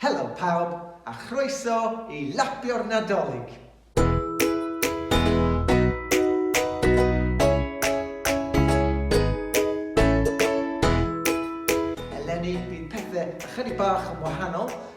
Helo pawb, a chroeso i Lapio'r Nadolig! Eleni, bydd pethau ychydig bach yn wahanol,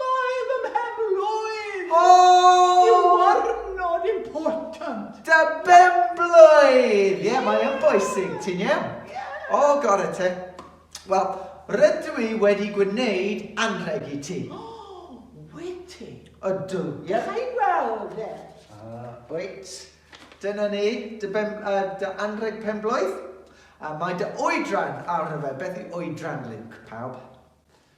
Mae fy mhen-blwydd i yn warnod important! Dy ben-blwydd! Ie, mae yn bwysig, ti'n iawn? O, gore te. Wel, rydw i wedi gwneud anrheg i ti. O, wyt ti? Ydw, ie. Ga i weld e? Wyt. Dyna ni, dy ben, uh, dy anrheg pen-blwydd. A mae dy oedran arno fe. Beth yw oedran, Luke, pawb?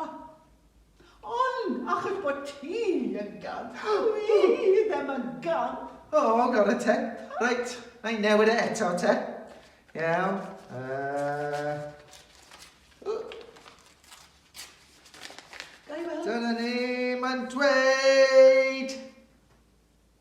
Ond achos bod ti yn gamp, dw i ddim yn gamp! O, gorau te. Reit, na i newid e eto te. Iawn. Dyna ni, mae'n dweud!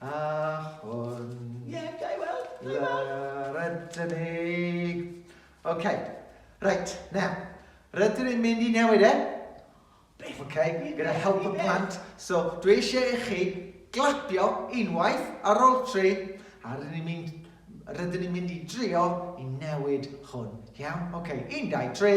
A hwn. Ie, ga i weld? Ga i weld? Lawr ydyn ni. OK. Reit, now. Rydyn ni'n mynd i newid e. OK, gyda help y plant. So, dwi eisiau i chi glapio unwaith ar ôl tri, a rydyn ni'n mynd rydyn ni'n mynd i drio i newid hwn. Iawn? OK, un, dau, tri.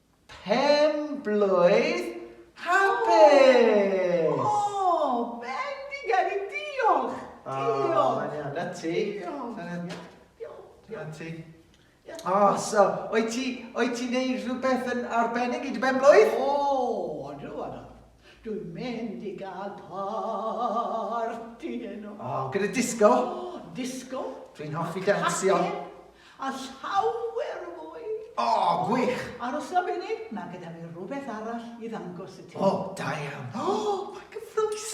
Pen blwydd hapus! O! Bendigedig! Diolch! Diolch! O, na ti. Diolch. Na ti. O, so, o'i ti, o'i ti'n neud rhywbeth yn arbennig i dy ben blwydd? O, odw, odw. Dwi'n mynd i gael parti heno. O, gyda disco? O, disco. Dwi'n hoffi dansio. A llawer o fwy. O, gwych. Arosa munud, mae gyda fi rhywbeth arall i ddangos i ti. O, da iawn. O, mae'n gyffroes.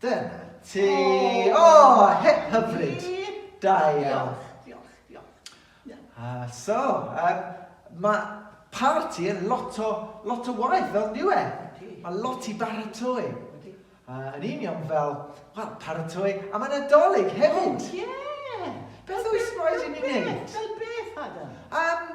Dyna ti! O! Hip hyfryd! Da iawn. Diolch, diolch, diolch. A so, um, mae parti yn lot o, lot o waith, fel niw e. Mae lot i baratoi. Uh, yn union fel, wel, paratoi am y Nadolig hefyd. Oh, ie! Yeah. Beth oes rhaid i ni wneud? Fel beth, Adam? Um,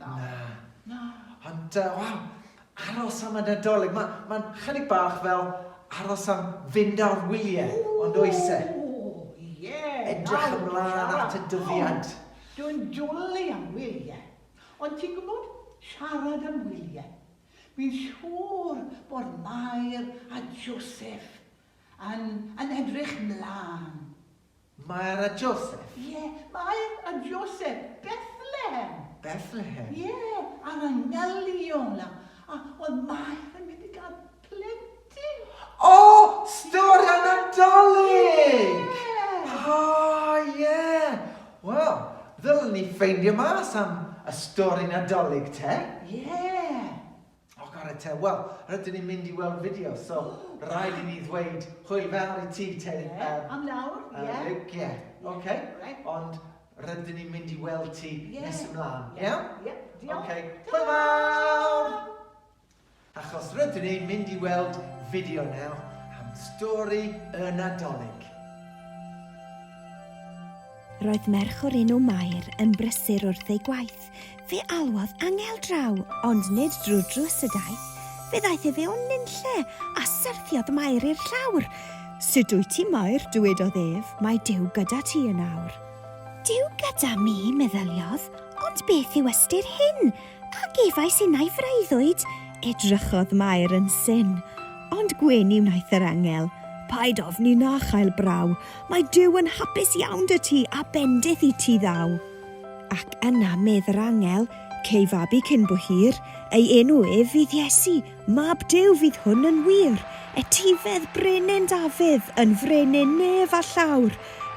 Na. Na. Na. Ond uh, waw, aros am y Nadolig. Mae'n ma chydig bach fel aros am fynd ar wyliau, ond oes e? Ie. Edrych ymlaen at y dyddiad. Dwi'n dwlu am wyliau. Ond ti'n gwybod, siarad am wyliau. Fi'n siŵr bod Mair a Joseph yn, yn edrych mlaen Mair a Joseph? Ie, Mair a Joseph, Bethlehem. Bethlehem? Ie, ar y ngelion, a, a, wel, Mair yn mynd i gael plentyn. O! Stori y Nadolig! Ie! O, ie! Wel, ddylen ni ffeindio mas am y stori Nadolig te. Ie! O, gore te, wel, rydyn ni'n mynd i weld fideo, so rhaid i ni ddweud hwyl fawr i ti, Teri. Ie, am nawr, ie. Ie, oce. Ond rydyn ni'n mynd i weld ti nes ymlaen, iawn? Ie, diolch. Oce, hwyl fawr! Achos rydyn ni'n mynd i weld fideo nawr am stori y Nadolig. Roedd merch o'r enw Mair yn brysur wrth ei gwaith. Fe alwodd angel draw, ond nid drwy'r drws y daeth. Fe ddaeth e fewn nunlle, a syrthiodd Mair i'r llawr. Sut wyt ti, Mair? dywedodd ef, mae Duw gyda ti yn awr. Duw gyda mi, meddyliodd, ond beth yw ystyr hyn? A gefais innau freuddwyd? Edrychodd Mair yn syn. Ond gwyn i wnaeth yr angel. Paid ofni na chael braw. Mae Duw yn hapus iawn 'da ti a bendith i ti ddaw. Ac yna medd yr angel, Cei fabi cyn bo hir, ei enw ef fydd Iesu, Mab Duw fydd hwn yn wir. Etifedd brenin Dafydd, yn frenin nef a llawr,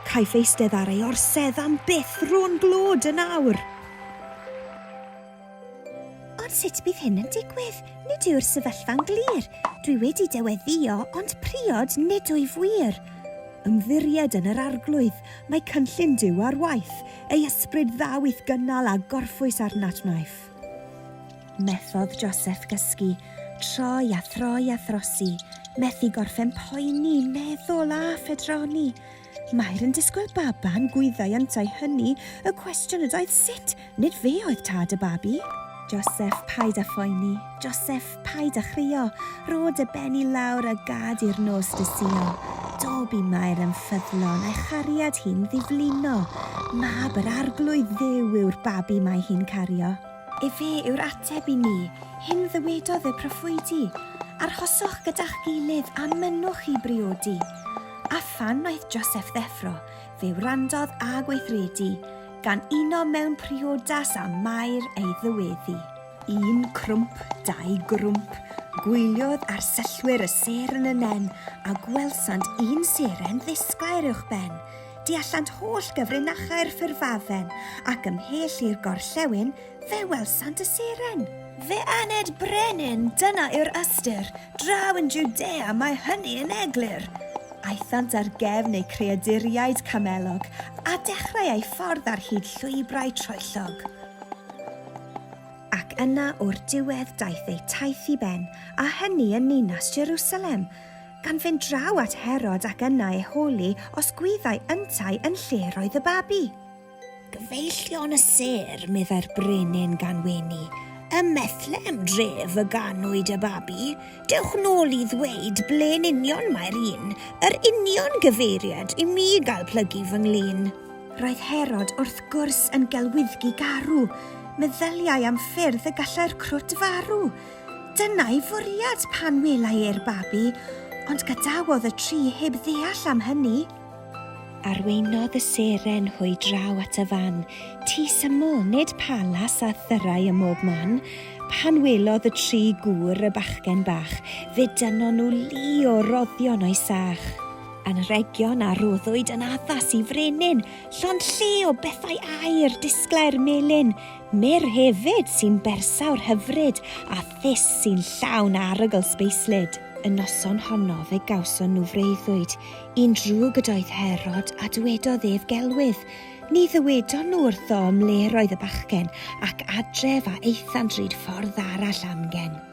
Caiff eistedd ar ei orsedd am byth, ro'n glod yn awr. Ond sut bydd hyn yn digwydd? Nid yw'r sefyllfa'n glir. Dwi wedi deweddio, ond priod nid wyf wir. Ymddiried yn yr Arglwydd, mae cynllun Duw ar waith, ei ysbryd dda wyth gynnal a gorffwys ar nadwnaeth. Methodd Joseph gysgu, troi a throi a throsi, methu gorffen poeni, meddwl a phedroni. Mair yn disgwyl baban gwyddai yntau hynny, y cwestiwn ydoedd sut, nid fe oedd tad y babi. Joseph, paid a phoeni. Joseph, paid a chrio. Rho dy ben i lawr a gad i'r nos dy suo. Do, bu Mair yn ffyddlon, a'i chariad hi'n ddiflino. Mab yr Arglwydd Dduw yw'r babi mae hi'n cario. Efe yw'r ateb i ni. Hyn ddywedodd y proffwydi, Arhoswch gyda'ch gilydd a mynnwch i briodi. A phan wnaeth Joseph ddeffro, fe wrandodd a gweithredu, gan uno mewn priodas â Mair ei ddyweddi. Un crwmp, dau grwmp, gwyliodd arsellwyr y seren y nen, a gwelsant un seren ddisglair uwchben. Tu allant holl gyfrinachau'r ffurfafen, ac ymhell i'r gorllewin, fe welsant y seren. Fe aned brenin, Dyna yw'r ystyr, draw yn Judea mae hynny yn eglur. Aethant ar gefn eu creaduriaid camelog, a dechrau eu ffordd ar hyd llwybrau troellog. Ac yna o'r diwedd daeth eu taith i ben, a hynny yn ninas Jerusalem, gan fynd draw at Herod ac yna ei holi os gwyddai yntau yn lle roedd y babi. Gyfeillion y sêr, meddai'r brenin gan wenu, ym Methlehem dref y ganwyd y babi, dewch nôl i ddweud ble'n union mae'r un, yr union gyfeiriad i mi gael plygu fy nglin. Roedd Herod wrth gwrs yn gelwyddgi garw, meddyliai am ffyrdd y gallai'r crwt farw, Dyna'i fwriad pan welai e'r babi, ond gadawodd y tri heb ddeall am hynny. Arweinodd y seren hwy draw at y fan tŷ syml, nid palas â thyrrau ym mhob man. Pan welodd y tri gŵr y bachgen bach, fe dynnon nhw lu o roddion o'i sach. Anrhegion a roddwyd yn addas i frenin, llond lle o bethau aur, disglair melyn, Meir hefyd sy'n bersawr hyfryd a thus sy'n llawn arogl sbeislyd. Y noson honno fe gawson nhw freuddwyd, un drwg ydoedd Herod, a dwedodd ef gelwydd. Ni ddywedon nhw wrtho ym mle'r oedd y bachgen, ac adref a aethant ryd ffordd arall amgen.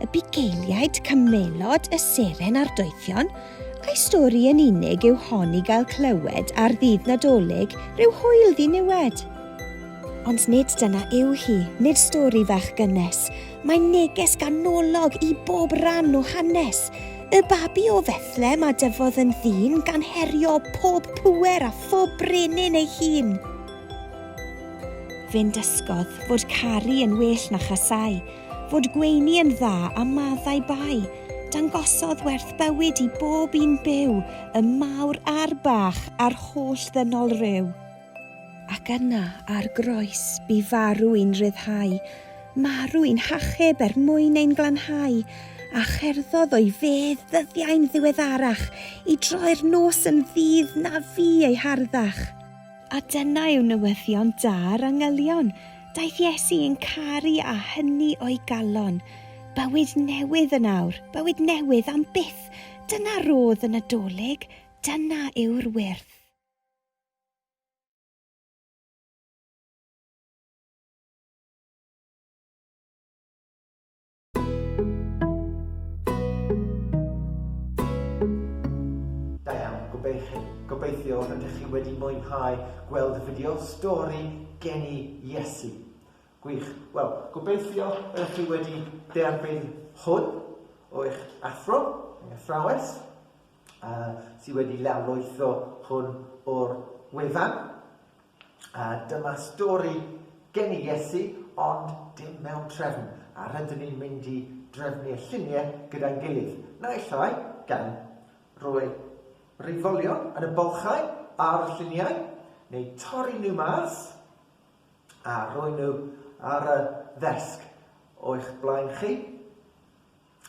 y bugeiliaid cymelod y seren a'r doethion, a'i stori yn unig yw hon i gael clywed ar ddydd Nadolig rhyw hwyl ddiniwed. Ond nid dyna yw hi, nid stori fach gynnes, mae neges ganolog i bob rhan o hanes. Y babi o Fethlem a dyfodd yn ddyn gan herio pob pŵer a phob brenin ei hun. Fe'n dysgodd fod caru yn well na chasau, fod gweini yn dda a maddau bai, dangosodd werth bywyd i bob un byw, y mawr a'r bach, a'r holl ddynol ryw. Ac yna, ar groes, bu farw i'n rhyddhau, marw i'n hachub er mwyn ein glanhau, a cherddodd o'i fedd ddyddiau'n ddiweddarach, i droi'r nos yn ddydd na fu ei harddach. A dyna yw newyddion da'r angylion, daeth Iesu i'n caru a hynny o'i galon. Bywyd newydd yn awr, bywyd newydd am byth, dyna rodd y Nadolig, dyna yw'r wyrth. Da iawn, gobeithio, gobeithio rydych chi wedi mwynhau gweld y fideo stori geni Iesu. Gwych. Wel, gobeithio ydych chi wedi derbyn hwn o eich athro, eich athrawes, uh, sydd wedi lawrlwytho hwn o'r wefan. A dyma stori gen i Iesu, ond dim mewn trefn, a rydyn ni'n mynd i drefnu'r lluniau gyda'n gilydd, naill ai gan roi reifolion yn y bylchau ar y lluniau, neu torri nhw mas a rhoi nhw ar y ddesg o'ch blaen chi,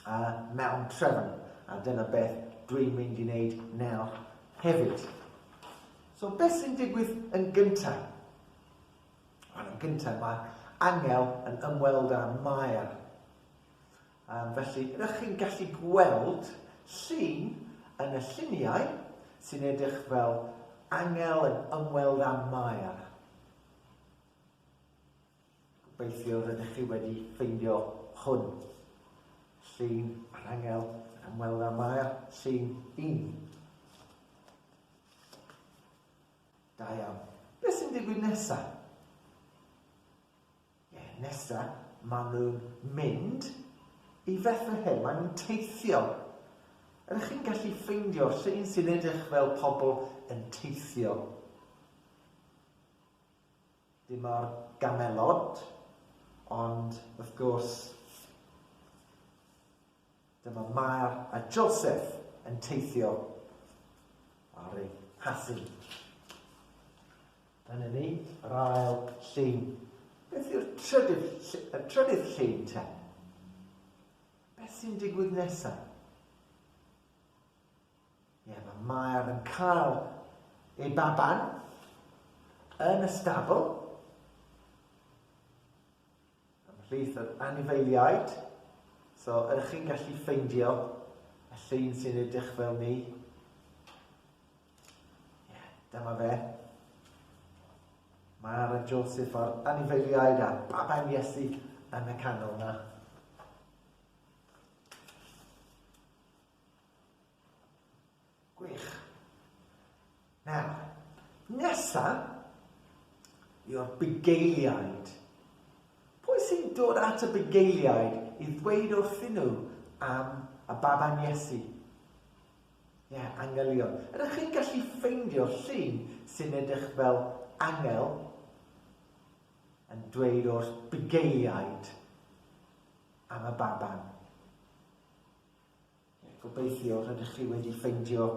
a mewn trefn, a dyna beth dwi'n mynd i wneud nawr hefyd. So beth sy'n digwydd yn gyntaf? Wel, yn gyntaf mae Angel yn ymweld â Mair. Um, felly, rydych chi'n gallu gweld llun yn y lluniau sy'n edrych fel Angel yn ymweld â Mair. Gobeithio rydych chi wedi ffeindio hwn. Llun arhangel ac ymweld â Mair, llun un. Da iawn. Beth sy'n digwydd nesa? Ie, nesa, maen nhw'n mynd i Fethlehem, maen nhw'n teithio. Ydych chi'n gallu ffeindio llun sy'n edrych fel pobl yn teithio? Dyma'r gamelod, ond wrth gwrs, dyma Mair a Joseph yn teithio ar ei hasyn. Dyna ni, yr ail llun. Beth yw'r trydydd, y trydydd llun te? Beth sy'n digwydd nesaf? Ie, mae Mair yn cael ei baban yn y stabl ymhlith yr anifeiliaid. So, ydych chi'n gallu ffeindio y llun sy'n edrych fel ni? Ie, dyma fe. Mair a Joseph a'r anifeiliaid a baban Iesu yn y canol na. Gwych. Nawr, nesa yw'r bugeiliaid. Pwy sy'n dod at y bugeiliaid i ddweud wrthyn nhw am y baban Iesu? Ie, yeah, angelion. Ydych chi'n gallu ffeindio llun sy'n edrych fel angel yn dweud o'r bugeiliaid am y baban? Gobeithio rydych chi wedi ffeindio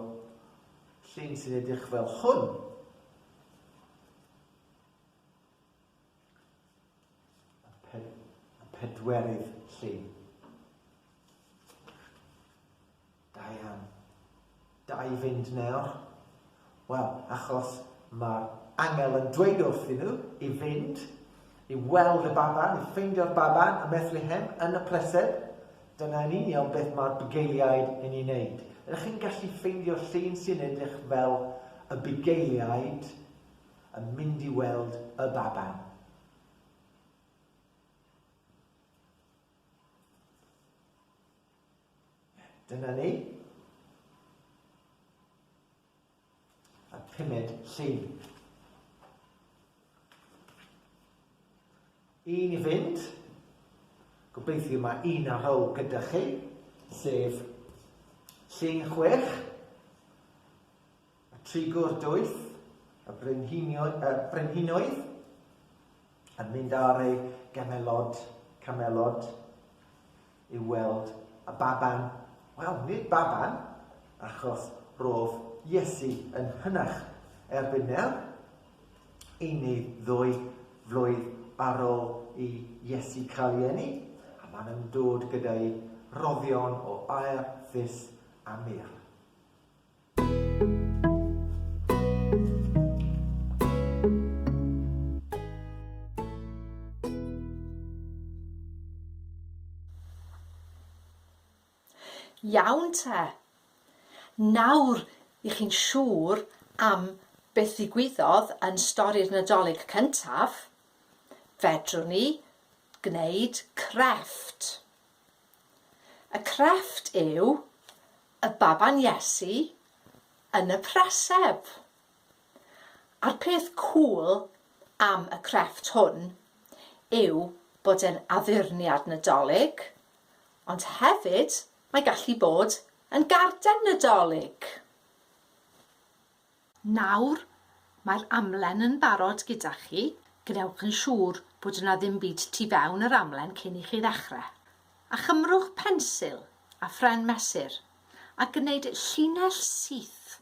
llun sy'n edrych fel hwn. Y, pe y pedwerydd llun. Da iawn. Da i fynd nawr? Wel, achos mae'r angel yn dweud wrthyn nhw i fynd i weld y baban, i ffeindio'r baban ym Methlehem yn y pleser. Dyna yn union beth mae'r bugeiliaid yn ei wneud. Ydych chi'n gallu ffeindio llun sy'n edrych fel y bugeiliaid yn mynd i weld y baban? Dyna ni. A pumed llun. Un i fynd. Gobeithio mae un ar ôl gyda chi, sef llun chwech. Y trigo'r doeth, y brenhinoedd, yn mynd ar ei gamelod, camelod, i weld y baban, wel, nid baban, achos ro'dd Iesu yn hynach erbyn nawr, unig ddwy flwydd ar ol i Iesu cael ei eni, a maen nhw'n dod gyda'i roddion o aer, fus a mur. Iawn te. Nawr i chi'n siŵr am beth ddigwyddodd yn stori'r Nadolig cyntaf, fedrwn ni gwneud crefft. Y crefft yw y baban Iesu yn y preseb. A'r peth cŵl am y crefft hwn yw bod e'n addurniad Nadolig, ond hefyd mae gallu bod yn garden Nadolig. Nawr, mae'r amlen yn barod gyda chi, gwnewch yn siŵr bod yna ddim byd tu fewn yr amlen cyn i chi ddechrau. A chymrwch pensil a phren mesur a gwneud llinell syth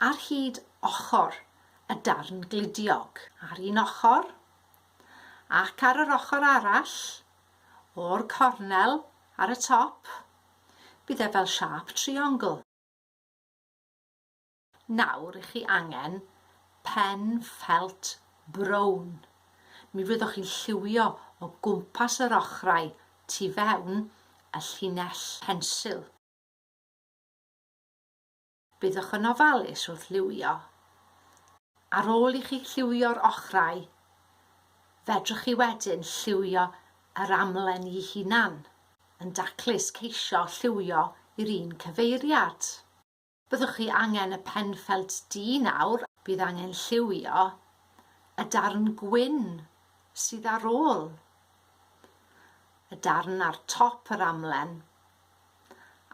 ar hyd ochr y darn gludiog, ar un ochr ac ar yr ochr arall, o'r cornel ar y top, bydd e fel siâp triongl. Nawr i chi angen pen ffelt brown. Mi fyddoch chi'n lliwio o gwmpas yr ochrau tu fewn y llinell pensil. Byddoch yn ofalus wrth liwio. Ar ôl i chi lliwio'r ochrau, fedrwch chi wedyn lliwio yr amlen i hunan, yn daclus ceisio lliwio i'r un cyfeiriad. Byddwch chi angen y pen ffelt du nawr. Bydd angen lliwio y darn gwyn sydd ar ôl y darn ar top yr amlen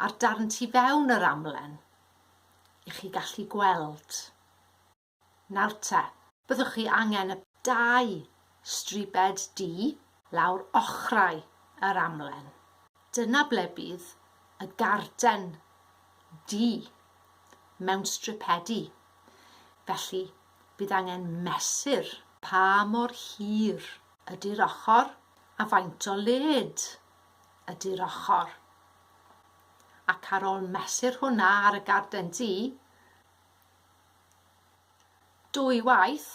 a'r darn tu fewn yr amlen i chi gallu gweld Nawr te, byddwch chi angen y dau stribed du lawr ochrau yr amlen. Dyna ble bydd y garden du mewn stripedi, felly bydd angen mesur pa mor hir ydy'r ochr a faint o led ydy'r ochr. Ac ar ôl mesur hwnna ar y garden du, Dwy waith,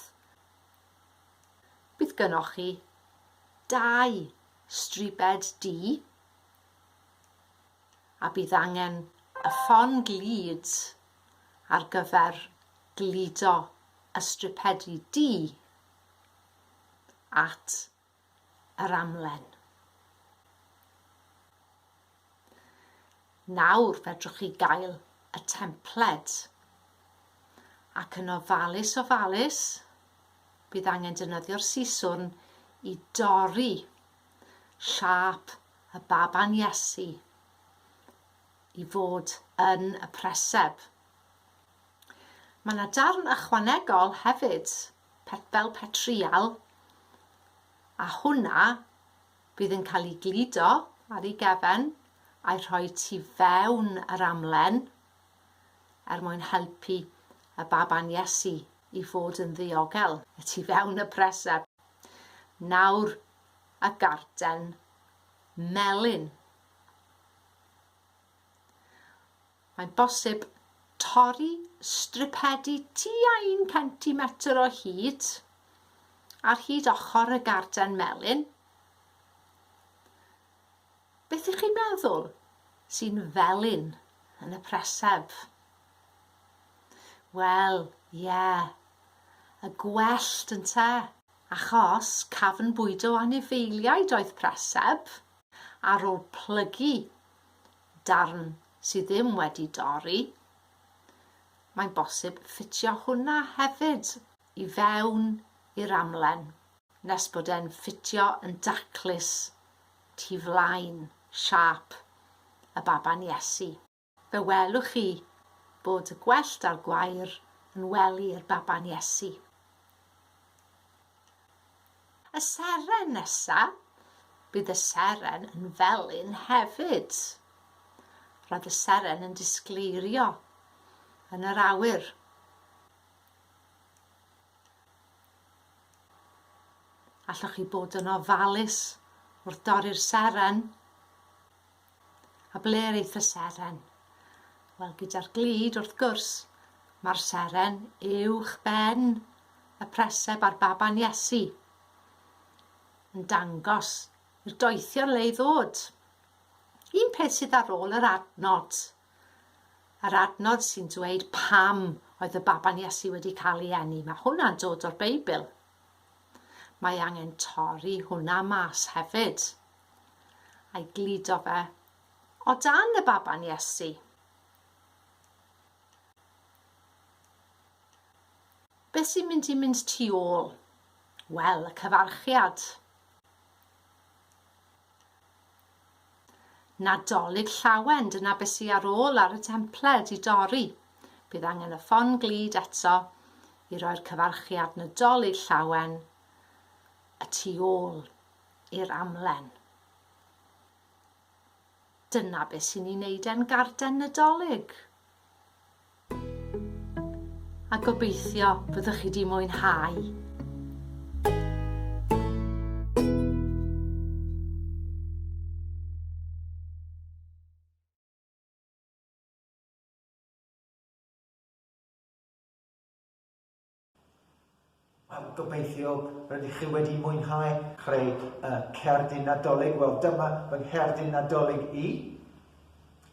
bydd gynoch chi dau stribed D a bydd angen y ffon glud ar gyfer gludo y stripedi D at yr amlen. Nawr fedrwch chi gael y templed ac yn ofalus ofalus bydd angen defnyddio'r siswrn i dorri siâp y baban Iesu i fod yn y preseb. Mae 'na darn ychwanegol hefyd, pet, fel petrial, a hwnna fydd yn cael ei gludo ar ei gefen a'i rhoi tu fewn yr amlen er mwyn helpu y baban Iesu i fod yn ddiogel y tu fewn y preseb. Nawr, y garden melyn. Mae'n bosib torri stripedi tua un centimetr o hyd ar hyd ochr y garden melyn. Beth ych chi'n meddwl sy'n felyn yn y preseb? Wel, ie, yeah, y gwellt yn te, achos cafn bwydo anifeiliaid oedd preseb, ar ôl plygu darn sy ddim wedi dorri, mae'n bosib ffitio hwnna hefyd i fewn i'r amlen nes bod e'n ffitio yn daclus tu flaen siâp y baban Iesu. Fe welwch chi bod y gwellt a'r gwair yn wely i'r baban Iesu. Y seren nesa, bydd y seren yn felyn hefyd. Roedd y seren yn disgleirio yn yr awyr. Allwch chi bod yn ofalus wrth dorri'r seren. A ble aeth y seren? Wel, gyda'r glud, wrth gwrs, mae'r seren uwch ben y preseb a'r baban Iesu yn dangos i'r doethion le i ddod. Un peth sydd ar ôl yr adnod, yr adnod sy'n dweud pam oedd y baban Iesu wedi cael ei eni, mae hwnna'n dod o'r Beibl. Mae angen torri hwnna mas hefyd. A'i gludo fe o dan y baban Iesu. Beth sy'n mynd i mynd tu ôl? Wel, y cyfarchiad. Nadolig Llawen, dyna be sy ar ôl ar y templed i dorri. Bydd angen y ffon glud eto i roi'r cyfarchiad Nadolig Llawen y tu ôl i'r amlen. Dyna be sy'n ei wneud e'n garden Nadolig. a gobeithio byddwch chi wedi mwynhau. Wel, gobeithio rydych chi wedi mwynhau. Creu uh, cerdyn nadolig. Wel, dyma fy ngherdyn nadolig i.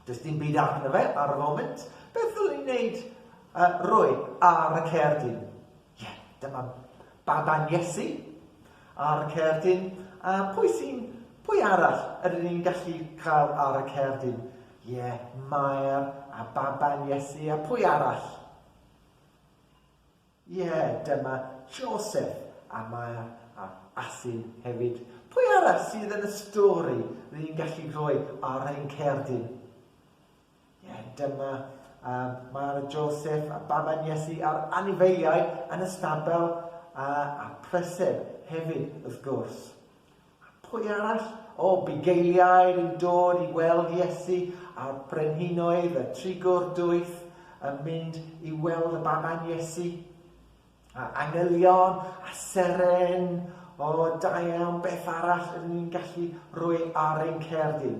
Does dim byd arno fe ar y foment. Beth ddylwn i'n neud uh, rwy ar y cerdyn? Ie, yeah, dyma baban Iesu ar y cerdyn. A pwy sy'n, pwy arall ydyn ni'n gallu cael ar y cerdyn? Ie, yeah, Maer a baban Iesu a pwy arall? Ie, dyma Joseph, a mae ar asyn hefyd. Pwy arall sydd yn y stori rydyn ni'n gallu rhoi ar ein cerdyn? Ie, dyma um, Mara Joseph a baban Iesu a'r anifeiliaid yn y stabel a, a preseb hefyd, wrth gwrs. A pwy arall? O, bugeiliaid yn dod i weld Iesu, a brenhinoedd a trigwr dwys yn mynd i weld y baban Iesu, a angylion a seren, o, da iawn, beth arall ydyn ni'n gallu rhoi ar ein cerdyn?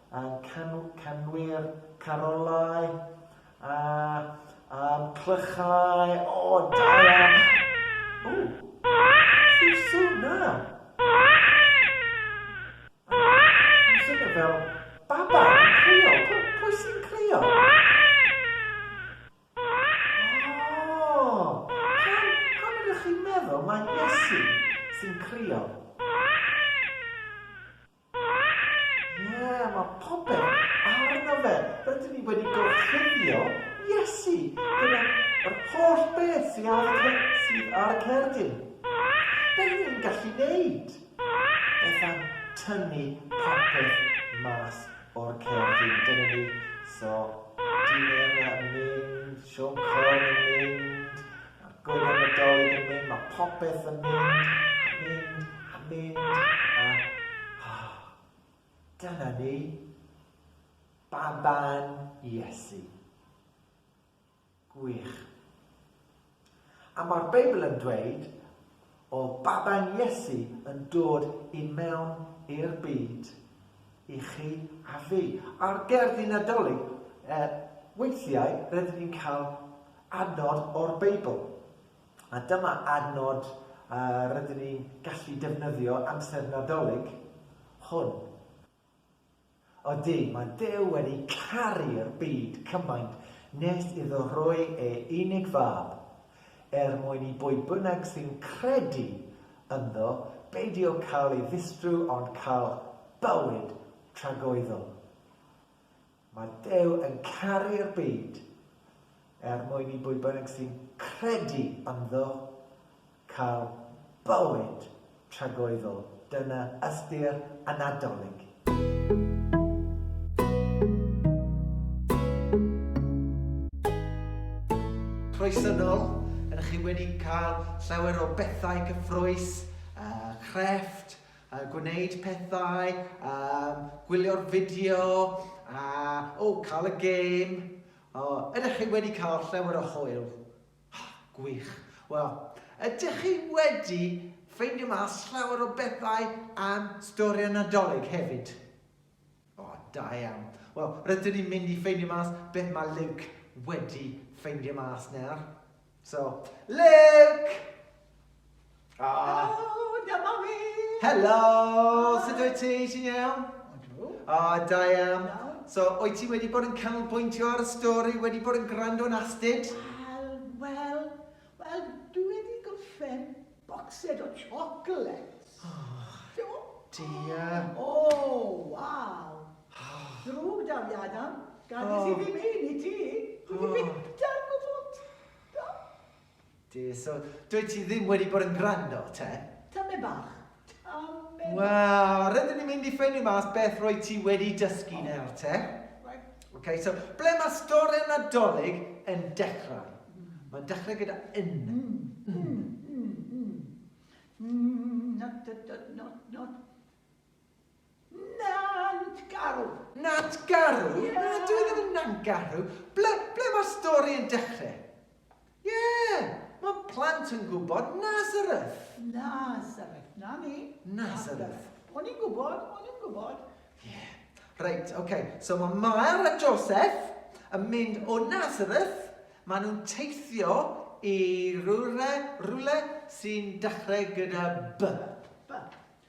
A'n canwyr carolau a'n clychau, o, da iawn! O! Beth yw'r swn 'na? Mae'n swnio fel baban yn crio. Pwy sy'n crio? O! Pam ydych chi'n meddwl mai Iesu sy'n crio? Ie, mae popeth arno fe. Rydyn ni wedi gorchuddio Iesu gyda yr holl beth sydd ar y sydd ar y cerdyn. Beth ni'n gallu neud? Beth am tynnu popeth mas o'r cerdyn? Dyna ni. So, dyn yn mynd, Siôn Corn yn mynd, Ar gyfer Nadolig yn mynd, mae popeth yn mynd, a mynd, a mynd, a... Oh, dyna ni. Baban Iesu. Gwych. A mae'r Beibl yn dweud O baban Iesu yn dod i mewn i'r byd i chi a fi. Ar gerddi Nadolig, e, weithiau rydyn ni'n cael adnod o'r Beibl. A dyma adnod uh, rydyn ni'n gallu defnyddio amser Nadolig hwn. Ydy, mae Duw wedi caru'r byd cymaint nes iddo roi ei unig fab, er mwyn i bwy bynnag sy'n credu ynddo beidio cael ei ddistru ond cael bywyd tragoeddol. Mae Duw yn caru'r byd er mwyn i bwy bynnag sy'n credu ynddo cael bywyd tragoeddol. Dyna ystyr y Nadolig. Croeso yn ol! Ydych chi wedi cael llawer o bethau cyffrous, crefft, A gwneud pethau, a gwylio'r fideo, a, o, cael y gêm. O, ydych chi wedi cael llawer o hwyl? Gwych. Wel, ydych chi wedi ffeindio mas llawer o bethau am stori'r Nadolig hefyd? O, da iawn. Wel, rydyn ni'n mynd i ffeindio mas beth mae Luke wedi ffeindio mas nawr. So, Luke! Ah. Helo, dyma fi! Helo, sut wyt ti? Ti'n iawn? O, da iawn. So, wyt ti wedi bod yn canolbwyntio ar y stori, wedi bod yn gwrando yn astud? Wel, wel, Wel, dwi wedi gorffen bocsed o chocolates. O, dear. O, waw. Ddrwg 'da fi, Adam. Gadais i ddim rhein i ti. Dwi 'di byta'r gwfwt. Do. Dear, so dwyt ti ddim wedi bod yn gwrando, te? Tamaid bach. Wel, rydyn ni'n mynd i ffeindio mas beth rwy ti wedi dysgu nawr te. Ok, so ble mae stori Nadolig yn dechrau? Mae'n dechrau gyda yn. Not, not, not, not. Nantgarw! Nantgarw? Ie! Na, dyw e ddim yn Nantgarw. Ble, ble mae'r stori yn dechrau? Ie! Mae plant yn gwybod Nazareth! Nazareth, na ni. Nazareth. O'n i'n gwybod, o'n i'n gwybod. Ie. Reit, oce. Okay. So mae Mael a Joseph yn mynd o Nazareth, maen nhw'n teithio i rhywle, rhywle sy'n dechrau gyda B. B.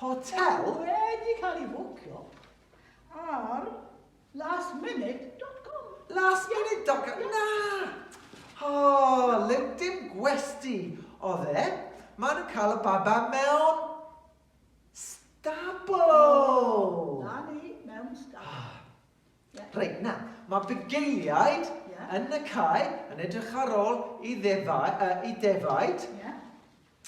Hotel wedi cael ei fwcio ar lastminute.com. Lastminute.com? Na! O, LinkedIn gwesti oedd e. Maen nhw'n cael y baba mewn stabl! Na ni, mewn stabl. Ie. Reit, nawr, mae bugeiliaid... Ie. ...yn y cae yn edrych ar ôl i ddefau, yy, i defaid. Ie.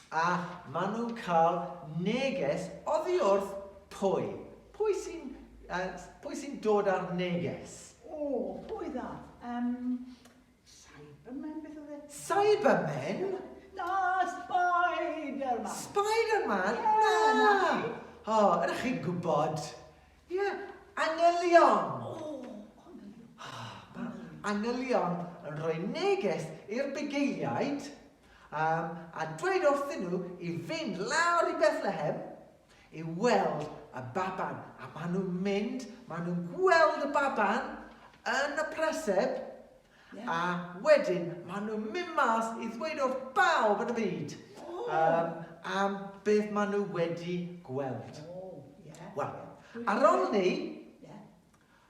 A maen nhw'n cael neges oddi wrth pwy? Pwy sy'n uh, pwy sy'n dod â'r neges? O, pwy dda? Um, Cybermen beth oedd e? Cybermen? Na, Spiderman. Spiderman? Yeah, na. na. O, oh, ydych chi'n gwybod? Ie, yeah. angylion. O, oh, angylion. Oh, angylion yn rhoi neges i'r bugeiliaid um, a dweud wrthyn nhw i fynd lawr i Bethlehem I weld y baban, a maen nhw'n mynd, maen nhw'n gweld y baban yn y preseb, yeah. a wedyn maen nhw'n mynd mas i ddweud wrth bawb yn y byd oh. um, am beth maen nhw wedi gweld. Oh, yeah. Wel, ar ôl ni,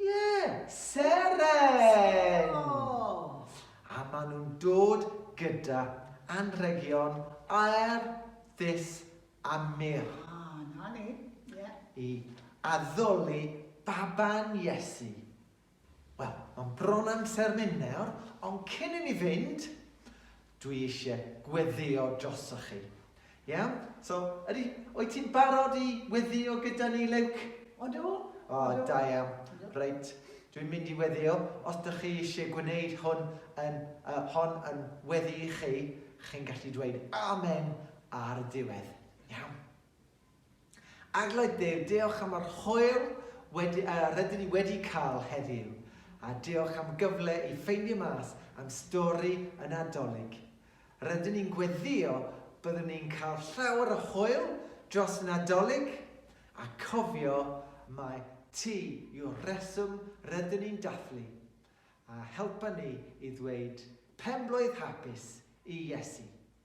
Ie, seren! A maen nhw'n dod gyda anrhegion aer, ddis a mur. A, 'na ni, ie. I addoli baban Iesu. Wel, mae'n bron amser mynd nawr, ond cyn i ni fynd, Dwi isie gweddïo drosoch chi. Iawn? So, ydy, wyt ti'n barod i weddïo gyda ni, Luke? Odw. O, da iawn. Reit, dwi'n mynd i weddïo. Os dych chi eisiau gwneud hwn yn, uh, hon yn weddi i chi, chi'n gallu dweud amen ar y diwedd. Iawn? Eglwys Dduw, diolch am yr hwyl wedi, uh, rydyn ni wedi cael heddiw, a diolch am gyfle i ffeindio mas am stori y Nadolig. Rydyn ni'n gweddio byddwn ni'n cael llawer o hwyl dros y Nadolig, a cofio mae ti yw'r reswm rydyn ni'n dathlu, a helpa ni i ddweud penblwydd hapus i Iesu.